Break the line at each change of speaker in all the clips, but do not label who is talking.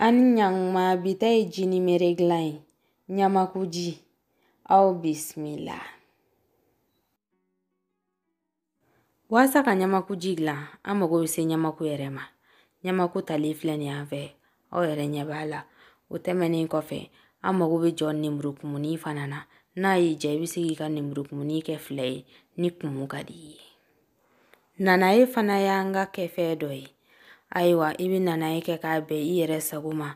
An ni ɲakuma bi ta ye jinimere dilan ye ɲamakuji aw bisimila waasa ka ɲamakuji dilan an mago bɛ se ɲamaku yɛrɛ ma ɲamaku talen filɛ nin y'an fɛ aw yɛrɛ ɲɛ b'a la o tɛmɛnen kɔfɛ an mago bɛ jɔ nemurukumuni fana na n'a y'i diya i bɛ se k'i ka nemurukumuni kɛ fila ye ni kumu ka di i ye nanaye fana y'an ka kɛfɛn dɔ ye ayiwa i bɛ nanaye kɛ k'a bɛn i yɛrɛ sago ma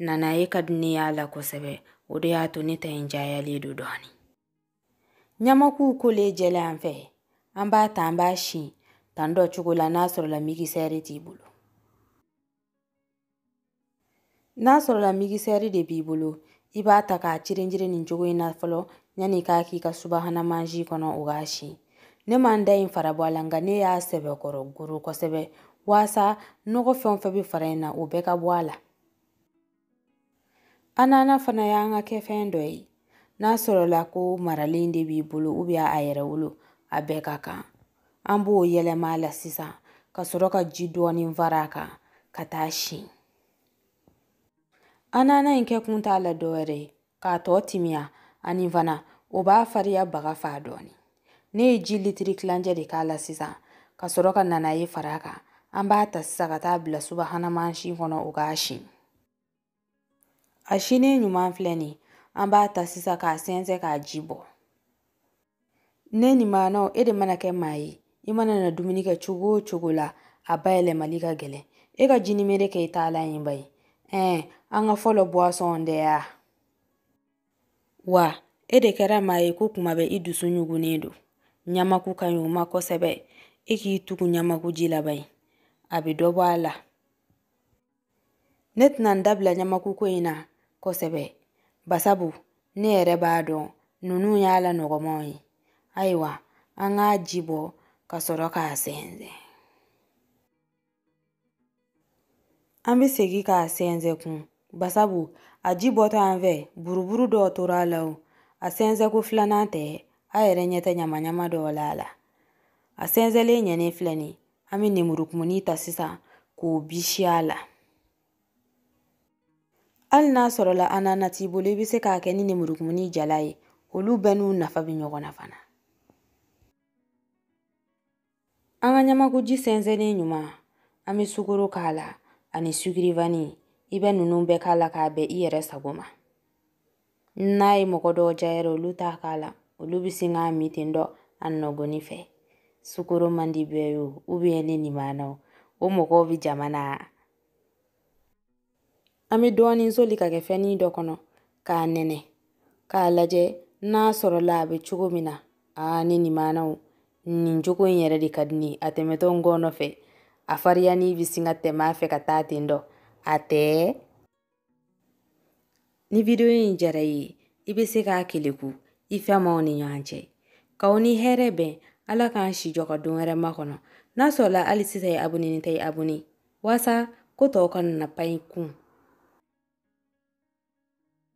nanaye ka di ne y'a la kosɛbɛ o de y'a to ne ta in cayalen don dɔɔni ɲamakuw kolen jɛla an fɛ an b'a ta an b'a si tan dɔ cogo la n'a sɔrɔla migisɛri t'i bolo N'a sɔrɔla migisɛri de b'i bolo i b'a ta k'a cirinjiri nin cogo in na fɔlɔ yanni k'a k'i ka subahana mansin kɔnɔ o k'a si ne ma n ta in fara bɔ a la nka ne y'a sɛbɛkɔrɔ goro kosɛbɛ waasa nɔgɔ fɛn o fɛn bɛ fara in na o bɛɛ ka bɔ a la Anana fana y'an ka kɛfɛn dɔ ye n'a sɔrɔla ko maralen de b'i bolo ubiyɛn a yɛrɛwolo a bɛɛ ka kan an b'o yɛlɛma a la sisan ka sɔrɔ ka ji dɔɔnin fara a kan ka taa si anana in kɛ kun t'a la dɔwɛrɛ ye k'a tɔ timiya ani fana o b'a fariya baga faa dɔɔni ne ye ji litiri kilancɛ de k'a la sisan ka sɔrɔ ka nanaye fara a kan an b'a ta sisan ka taa bila subahana mansin kɔnɔ o k'a si a sinen ɲuman filɛ nin an b'a ta sisan k'a sɛnsɛn k'a ji bɔ Ne ni maanaw e de mana kɛ maa ye i mana na dumuni kɛ cogo o cogo la a bayɛlɛmali ka gɛlɛn e ka jinimere kɛ i taalan ye ba ye ɛɛ an ka fɔlɔ buwasɔn de y'a wa e de kɛra maa ye ko kuma bɛɛ i dusu ɲugunnen don ɲamaku ka ɲi o ma kosɛbɛ e k'i tugu ɲamakuji la ba ye a bɛ dɔ bɔ a la ne tɛna n dabila ɲamakuko in na kosɛbɛ basabu ne yɛrɛ b'a dɔn ninnu y'a la nɔgɔmaw ye ayiwa an k'a ji bɔ ka sɔrɔ k'a sɛnsɛn an bɛ segin k'a sɛnsɛn kun basabu a ji bɔtɔ an fɛ buruburu dɔw tora a la o a sɛnsɛnko filanan tɛ a yɛrɛ ɲɛ tɛ ɲamaɲama dɔw la a la a sɛnsɛnlen ɲɛnen filɛ nin an bɛ nemurukumuni ta sisan k'o bisi a la hali n'a sɔrɔla anana t'i bolo i bɛ se k'a kɛ ni nemurukumuni jalan ye olu bɛɛ n'u nafa bɛ ɲɔgɔn na fana an ka ɲamakuji sɛnsɛnnen ɲuman an bɛ sukoro k'a la ani sukirivani i bɛ ninnu bɛɛ k'a la k'a bɛn i yɛrɛ sago ma n'a ye mɔgɔ dɔw diya yɛrɛ olu t'a k'a la olu bɛ sin k'a min ten dɔrɔn a nɔgɔnni fɛ sukoro man di bɛɛ ye o ubiyɛn ne nin b'a na o o mɔgɔw bɛ jama na an bɛ dɔɔnin soli ka kɛ fɛnnin dɔ kɔnɔ k'a nɛnɛ k'a lajɛ n'a sɔrɔla a bɛ cogo min na aa ne nin b'a na o nin cogo in yɛrɛ de ka di ne ye a tɛmɛtɔ n ngɔnɔ fɛ a fariyanni bɛ sin ka tɛmɛ a fɛ ka taa ten dɔrɔn a tɛ ni vidiyo in diyara i ye i bɛ se k'a keleku i fɛ maaw ni ɲɔgɔn cɛ k'aw ni hɛrɛ bɛn ala k'an si jɔ ka don wɛrɛ makɔnɔ n'a sɔrɔla hali sisan i abonenin tɛ i abone walasa ko tɔw kana na pan i kun